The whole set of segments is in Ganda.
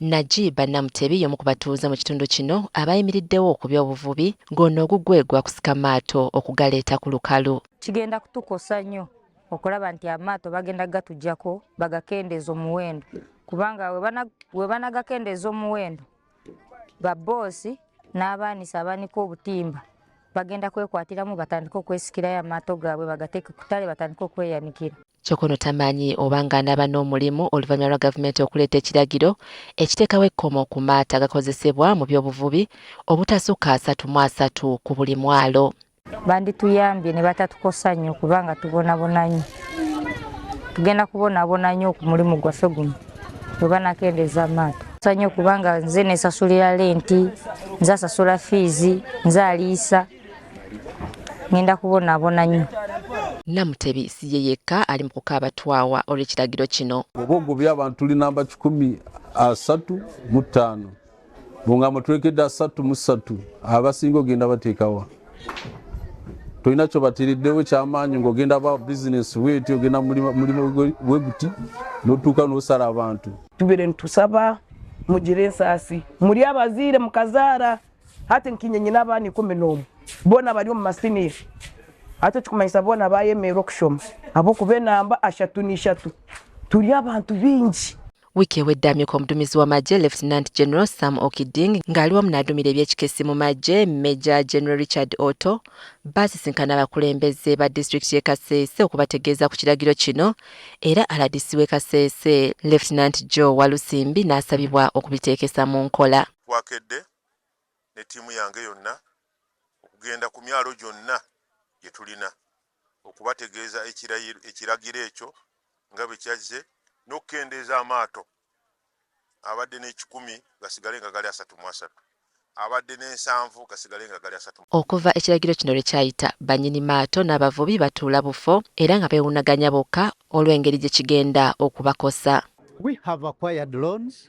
Najib Namutebi y'omu ku batuuze mu kitundu kino abayimiriddewo ku by'obuvubi ng'ono ogugwe gwa kusika maato okugaleeta ku lukalu. Kigenda kutukosa nnyo okulaba nti amaato bagenda kugatuggyako bagakendeeze omuwendo kubanga we banagakendeeza omuwendo babboosi n'abaanisi abaanika obutimba bagenda kwekwatiramu batandike okwesikirayo amaato gaabwe bagateeke ku ttale batandike okweyanikira. kyokka ono tamanyi oba ng'anaaba n'omulimu oluvannyuma lwa gavumenti okuleeta ekiragiro ekiteekawo ekkomo ku maato agakozesebwa mu by'obuvubi obutasukka asatu mu asatu ku buli mwalo. Bandituyambye ne batatukosa nnyo kubanga tubonabona nnyo. Tugenda kubonabona nnyo ku mulimu gwaffe guno bwe banakendeeza amaato. Nsanyuka kubanga nze nesasulira lenti, nze asasula fiizi, nze aliisa. ŋenda kubonaabona nnyo namutebi si ye yekka ali mu kukaaba twawa olw'ekiragiro kino oba ogobye abantu tuli namba kikumi asatu mu ttaano bunga mutwekedde asatu mu ssatu abasinga ogenda bateekawa tolina kyobatiriddewo kyamaanyi ngaogenda ba bizinesi weti ogenda mulimu weguti notuuka nosala abantu tubere ntusaba mugire ensaasi muli abaziire mukazaara hati nkinye nyina abaana ikumi n'omu boona bari omu masiniya ate kikumanyisa boona bayemeera okushoma ab'okuba enamba ashatu n'ishatu turi abantu bingi wiiki ewedde amyuka omudumizi w'amagye lieutenant general sam okiding ng'ali wamu n'adumira ebyekikesi mu magye major general richard otto baasisinkana abakulembeze ba disitulikiti y'e kaseese okubategeeza ku kiragiro kino era aladisi w'e kaseese lieutenant joe walusimbi n'asabibwa okubiteekesa mu nkola Twakedde ne ttiimu yange yonna okugenda ku myalo gyonna gye tulina okubategeeza ekiragiro ekyo nga bwe kyazze n'okukendeeza amaato abadde n'ekikumi gasigale nga gali asatu mu asatu abadde n'ensanvu gasigale nga gali asatu Okuva ekiragiro kino lwe kyayita, bannyini maato n'abavubi batuula bufo era nga beewuunaganya bokka olw'engeri gye kigenda okubakosa. We have acquired loans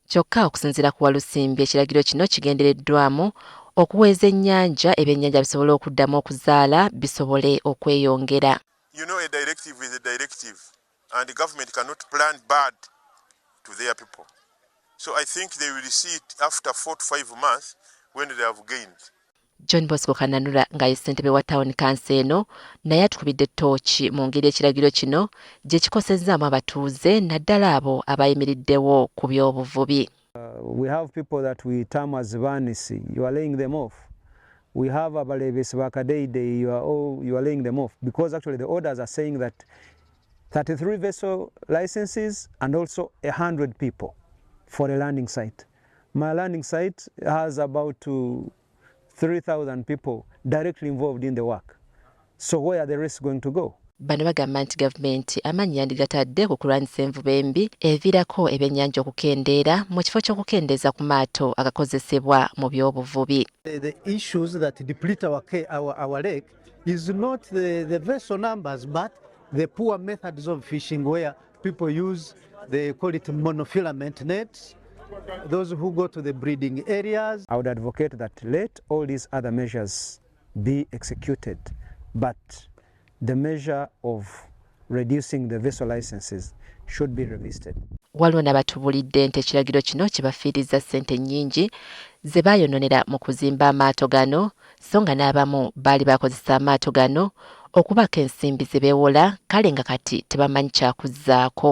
Kyokka okusinziira ku Walusimbi ekiragiro kino kigendereddwamu okuweeza ennyanja ebyennyanja bisobole okuddamu okuzaala bisobole okweyongera. You know a directive is a directive and government cannot plan bad to their people so I think they will see it after four to five months when they have gained. John Bosco Kananura nga ye ssentebe wa tawuni kanso eno naye atukubidde ttooki mu ngeri ekiragiro kino gye kikosezzaamu abatuuze naddala abo abayimiriddewo ku by'obuvubi. Uh, we have people that we term as vanisi you are laying them off we have abalebesi ba kadeidei you are all you are laying them off because actually the orders are saying that 33 vessel licenses and also 100 people for a landing site My learning site has about 3,000 people directly involved in the work. So where are the risks going to go? Bano bagamba nti gavumenti amaanyi yandigatadde ku kulwanyisa envuba embi eviirako ebyennyanja okukendeera mu kifo ky'okukendeeza ku maato agakozesebwa mu by'obuvubi. The issues that deplete our, our, our lake is not the, the vessel numbers but the poor methods of fishing where People use, they call it monofilament nets. Those who go to the breeding areas. I would advocate that let all these other measures be executed, but the measure of reducing the vessel licenses should be revisited. Waliwo nabatubulidde nti ekiragiro kino kibafiirizza ssente nnyingi ze baayononera mu kuzimba amaato gano so nga n'abamu baali bakozesa amaato gano okubaako ensimbi ze beewola kale nga kati tebamanyi kyakuzzaako.